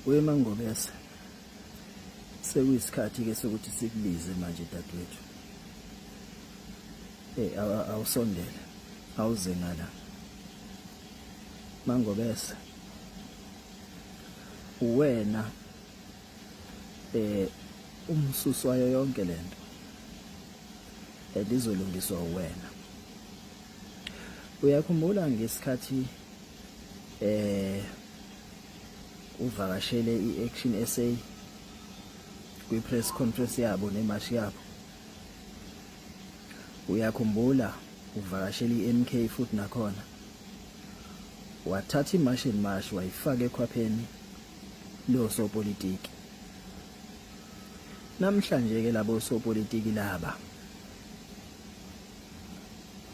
wemangobese sekuyisikhathi ke sokuthi sikubize manje dadwethu eh awusondele awuze ngala mangobese uwena eh umsusi wayo yonke lento elizolungiswa eh, uwena uyakhumbula ngesikhathi eh uvakashele iAction SA kwi press conference yabo nemash yabo uyakhumbula uvakashele iMK futhi nakhona wathatha imash and mash wayifaka ekhwapheni losopolitiki. Namhlanje ke labo sopolitiki laba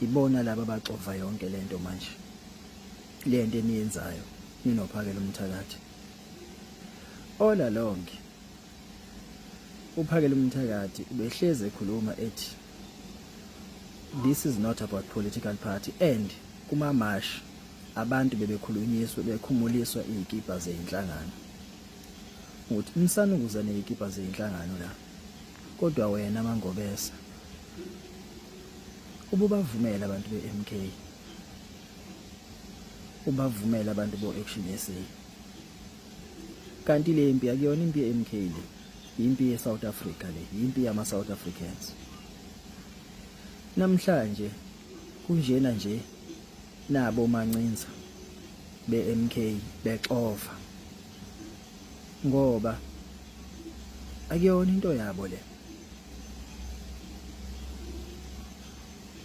ibona laba baxova yonke lento manje. Lento eniyenzayo ninophakela umthakathi. Ola lonke uphakela umthakathi ubehleze ekhuluma ethi this is not about political party and kuma mash Abantu bebekhulunyiswe bekhumuliswa izikipa zezinhlangano ukuthi nisanukuza nezikipa zezinhlangano la kodwa wena mangobesa ububavumela abantu beMK ubavumela abantu bo Action SA kanti le mpi akuyona impi yeMK le impi yeSouth Africa le impi yama South Africans namhlanje kunjena nje nabo mancinza beMK bexova ngoba akuyona into yabo le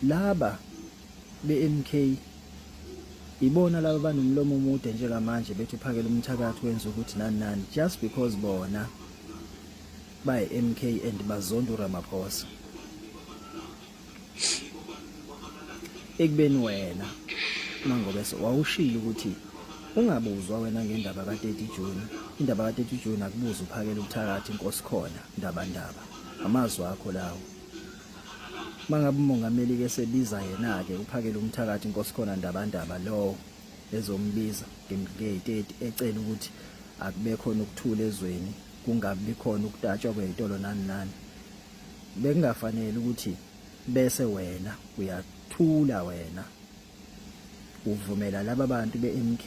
laba beMK ibona laba banomlomo omude njengamanje bethi uphakela umthakathi wenza ukuthi nani nani just because bona bayi MK and bazonda uRamaphosa ekubeni wena mangobeso wawushilo ukuthi ungabuzwa wena ngendaba ka-30 June indaba ka-30 June akubuza uphakela ubuthakathi inkosi khona ndaba ndaba amazwi akho lawo mangabe umongameli ke sebiza yena ke uphakela umthakathi inkosi khona ndaba ndaba lowo ezombiza nge-30 ecela ukuthi akube khona ukuthula ezweni kungabi khona ukutatshwa kweyitolo nani nani bekungafanele ukuthi bese wena uyathula wena uvumela laba bantu be-MK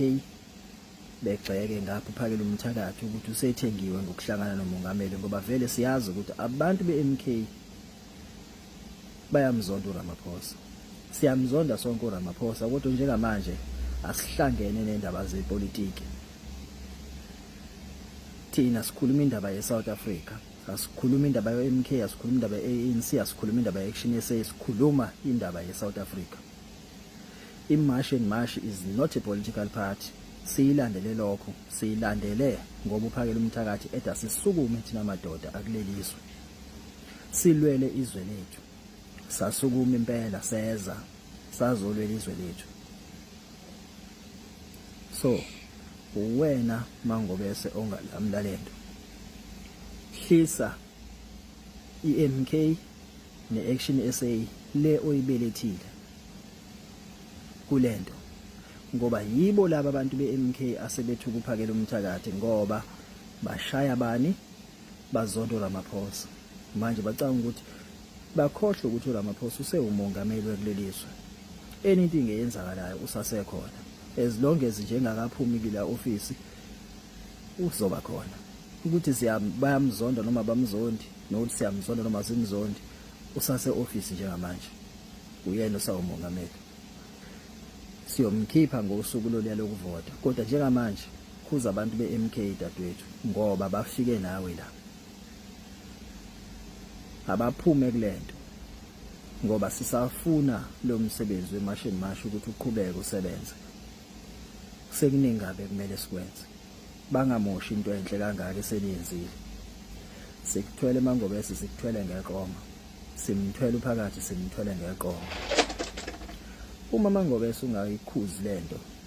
begxeke ngapho phakela umthakathi ukuthi usethengiwe ngokuhlangana nomongameli ngoba vele siyazi ukuthi abantu be-MK bayamzonda uRamaphosa siyamzonda sonke uRamaphosa kodwa njengamanje asihlangene nendaba zepolitiki thina sikhuluma indaba ye-South Africa asikhuluma indaba yo-mk asikhuluma indaba ye-anc asikhuluma indaba ye-action sa sikhuluma indaba ye-south africa imash and mash is not a political party siyilandele lokho siyilandele ngoba uphakela umthakathi eda sisukume thina madoda akuleliswe silwele izwe lethu sasukuma impela seza sazolwela izwe lethu so uwena mangobese ongalamla lento hlisa iMK neAction SA le oyibelethile kulento ngoba yibo laba abantu beMK asebethu kuphakela umthakathi ngoba bashaya bani bazonto Ramaphosa manje bacanga ukuthi Bakhohlwe ukuthi uRamaphosa usewumongameli wekuleli zwe. Anything eyenzakalayo usasekhona. As long as nje engakaphumi kule ofisi uzoba khona. Ukuthi bayamzonda noma bamzondi nokuthi siyamzonda noma simzondi usase office njengamanje. Uyena osawumongameli. Siyomkhipha ngosuku loluya lokuvota kodwa njengamanje khuza abantu beMK dadwethu ngoba bafike nawe la. abaphume kulento ngoba sisafuna lo msebenzi wemashini masho ukuthi uqhubeke usebenze sekuningi kabi kumele sikwenze bangamoshi into enhle kangaka eseniyenzile sikuthwele mangobese sikuthwele ngeqoma simthwele uphakathi simthwele ngeqoma uma mangobese ungayikhuzi lento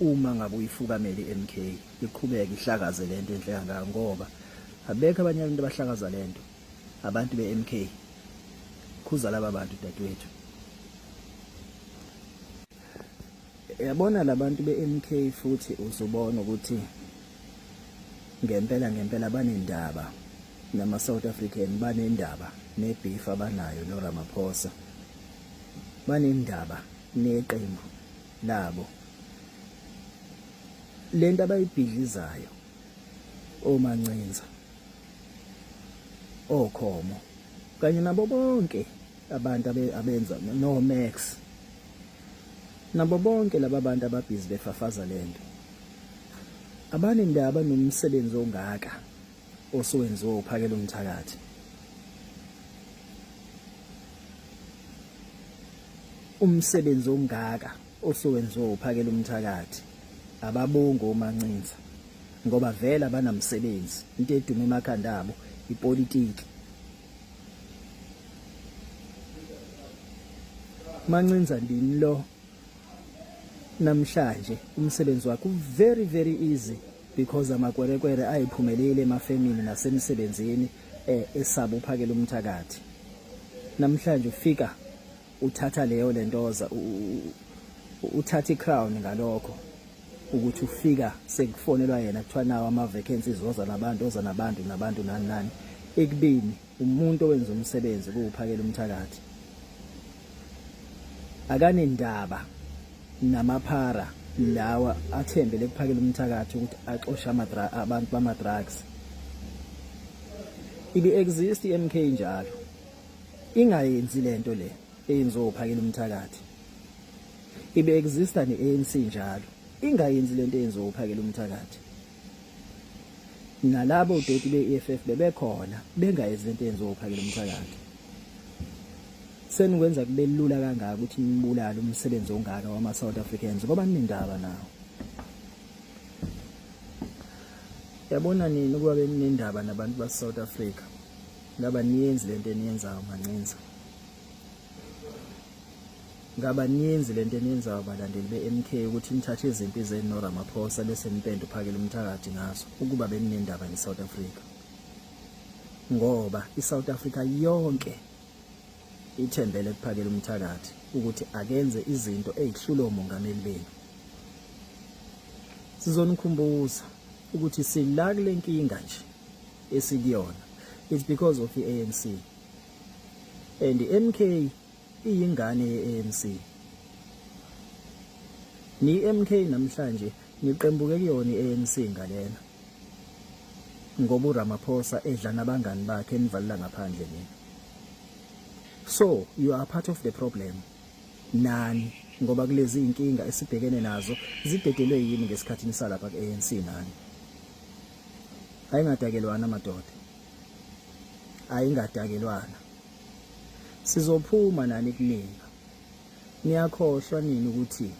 uma ngabe uyifukamele iMK iqhubeke ihlakaze lento enhle kangaka ngoba abekho abanye abantu abahlakaza lento abantu beMK khuza laba bantu dadewethu yabona labantu beMK futhi uzubona ukuthi ngempela ngempela banendaba nama South African banendaba nebeef abanayo no Ramaphosa banendaba neqembu nabo lento abayibhidlizayo omancinza okhomo kanye nabo bonke abantu abenza no Max nabo bonke laba bantu ababhizi befafaza lento abanendaba nomsebenzi ongaka osuwenziwe uphakela umthakathi umsebenzi ongaka osuwenziwe uphakela umthakathi ababongo omancinza ngoba vele abanamsebenzi into edume emakhanda abo ipolitiki mancinza ndini lo namhlanje umsebenzi wakho very very easy because amakwerekwere ayiphumelile emafemini nasemsebenzini eh, esaba uphakela umthakathi namhlanje ufika uthatha leyo lentoza uthatha icrown ngalokho ukuthi ufika sekufonelwa yena kuthiwa nawo ama-vacancies oza nabantu oza nabantu nabantu nani nani ekubini umuntu owenza umsebenzi kuwuphakela umthakathi akanendaba namaphara lawa athembele kuphakela umthakathi ukuthi axoshe amadra abantu bama drugs ibi exist iMK njalo ingayenzi lento le eyenziwa uphakela umthakathi ibe exista neANC njalo ingayenzi lento eyenziwa uphakela umthakathi nalabo doti be-EFF bebekhona bengayenzi lento yenziwa uphakela umthakathi senikwenza kube lula kangaka ukuthi nibulale umsebenzi ongaka wama-south africans ngoba ninendaba nawo yabona nini ukuba beninendaba nabantu base-south africa ngaba niyenzi le nto eniyenzayo mancinza Ngaba ninzi lento eniyenzayo balandeli beMK ukuthi nithathe izimpi zenu noRamaphosa bese nipenda uphakela umthakathi ngazo ukuba beninendaba neSouth Africa. Ngoba iSouth Africa yonke ithembele kuphakela umthakathi ukuthi akenze izinto ezihlula omongameli benu. Sizonikhumbuza ukuthi sila kule nkinga nje esikuyona. It's because of iANC. And iMK iyingane ye-ANC. Ni-MK namhlanje niqembuke kuyona i-ANC ngalena. Ngoba uRamaphosa edla nabangani bakhe enivalela ngaphandle nina. So you are part of the problem. Nani ngoba kulezi inkinga esibhekene nazo zidedelwe yini ngesikhathi nisalapha ku-ANC nani. Ayingadakelwana madoda. Ayingadakelwana. Sizophuma nani kunina. Niyakhohlwa nini ukuthi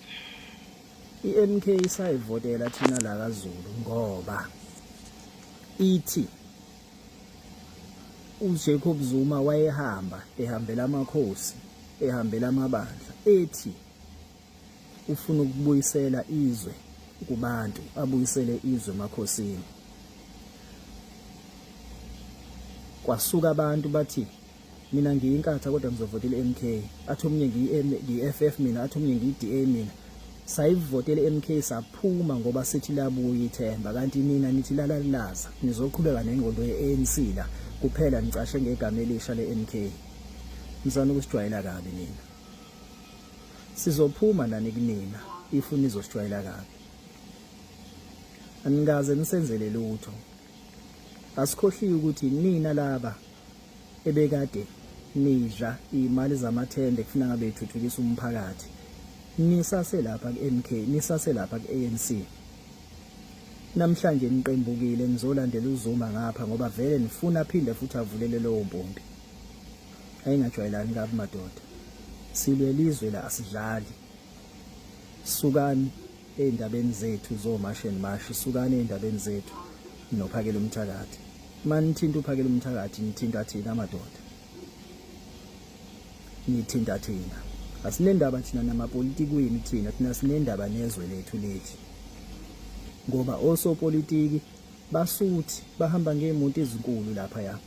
iMK isayivotela thina la kaZulu ngoba ithi uJacob Zuma wayehamba ehambela amakhosi ehambela amabandla ethi ufuna ukubuyisela izwe kubantu abuyisele izwe emakhosini kwasuka abantu bathi mina ngiyinkatha kodwa ngizovotela MK athi omunye ngiyi-FF mina athi omunye ngiyi-DA mina sayivotela MK saphuma ngoba sithi labuya ithemba kanti nina nithi lalalaza nizoqhubeka nengqondo ye-ANC la kuphela nicashe ngegama elisha le-MK mzana ukusijwayela kabi nina Sizophuma nani kunina if nizosijwayela kabi. Anikaze nisenzele lutho. Asikhohliwe ukuthi nina laba ebekade nidla imali zamathende kufuna ngabe ithuthukisa umphakathi. Nisase lapha kuMK, nisase lapha kuANC. Namhlanje niqembukile nizolandela uZuma ngapha ngoba vele nifuna phinde futhi avulele lowo mpompi. ayingajwayelani kabi madoda silwe lizwe la asidlali sukani eindabeni zethu zo mash and mash sukani eindabeni zethu nophakela umthakathi manithinta uphakela umthakathi nithinta thina madoda nithinta thina asinendaba thina namapolitiki wini thina thina sinendaba nezwe lethu lethi ngoba osopolitiki basuthi bahamba ngeemoto ezinkulu lapha ya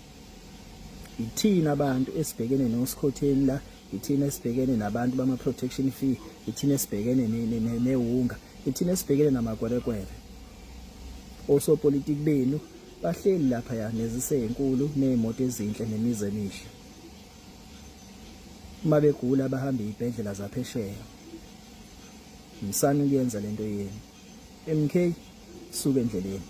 ithina abantu esibhekene nosikhotheni la ithina esibhekene nabantu bama protection fee ithina esibhekene newunga ithina esibhekene namakwerekwere osopolitiki benu bahleli lapha ya nezisenkulu nezimoto ezinhle nemize emihle uma begula bahamba izibhedlela zaphesheya msani kuyenza lento yenu MK suka endleleni